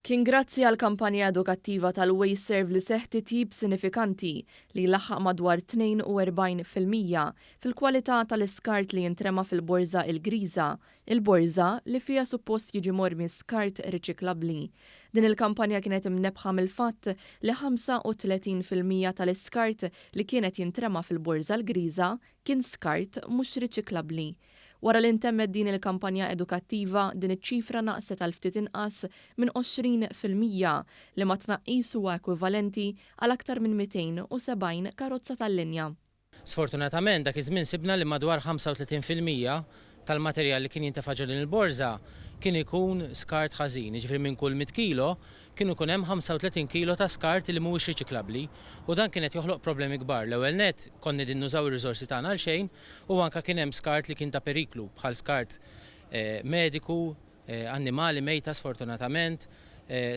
Kien grazzi għall-kampanja edukattiva tal-Ways Serve li seħħ titjib sinifikanti li laħħaq madwar 42 fil-mija fil-kwalità tal-iskart li jintrema fil-Borża Il-Griża, il-borża li fiha suppost jiġi mormi skart riċiklabbli. Din il-kampanja kienet imnebbħa mill-fatt li 35 fil-mija tal-iskart li kienet jintrema fil-Borża l-Griża kien skart mhux riċiklabbli. Wara li ntemmet din il-kampanja edukattiva, din iċ-ċifra naqset għal ftit inqas minn 20 fil-mija, liema tnaqqis huwa ekwivalenti għal aktar minn 270 karozza tal-linja. Sfortunatament, dak iż-żmien sibna li madwar 35 fil-mija tal-materjal li kien jintefa' ġo din il-borża kien ikun skart ħażin, jiġifieri minn kull mitt kilo, Kien ikun hemm 35 kilo ta' skart li mhuwiex riċiklabbli u dan kien qed joħloq problemi kbar. L-ewwel nett, konna qegħdin nużaw ir-riżorsi tagħna għal xejn u anke kien hemm skart li kien ta' periklu bħal skart mediku, annimali mejta sfortunatament,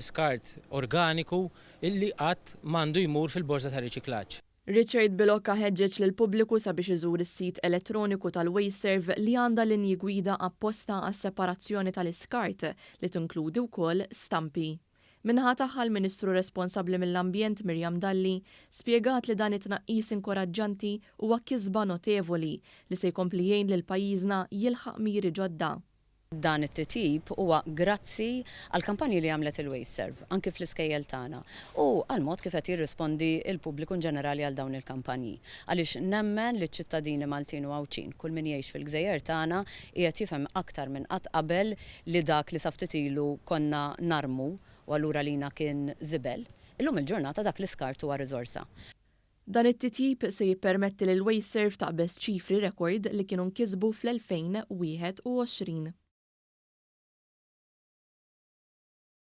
skart organiku li qatt m'għandu jmur fil-borża tar-riċiklaġġ. Richard Bilocca ħeġġeġ lill-pubbliku sabiex iżur is-sit elettroniku tal-Wasteserve li għandha linji gwida apposta għas-separazzjoni tal-iskart li tinkludi wkoll stampi. Min-naħa tagħha l-Ministru responsabbli mill-Ambjent Miriam Dalli spjegat li dan it-tnaqqis inkoraġġanti huwa kisba notevoli li se jkompli jgħin lil pajjiżna jilħaq miri ġodda. Dan it-titjib huwa grazzi għall-kampanji li għamlet il-WasteServ, anki fl-iskejjel tagħna, u għall-mod kif qed jirrispondi l-pubbliku inġenerali għal dawn il-kampanji. Għaliex nemmen li ċ-ċittadini Maltin u Għawdxin, kull min jgħix fil-gżejjer tagħna, qiegħed jifhem aktar minn qatt qabel li dak li sa ftit ilu konna narmu u allura għalina kien żibel, illum il-ġurnata dak l-iskart huwa riżorsa. Dan it-titjib se jippermetti lil Wasteserv taqbeż ċifri rekord li kienu nkisbu fl-2021.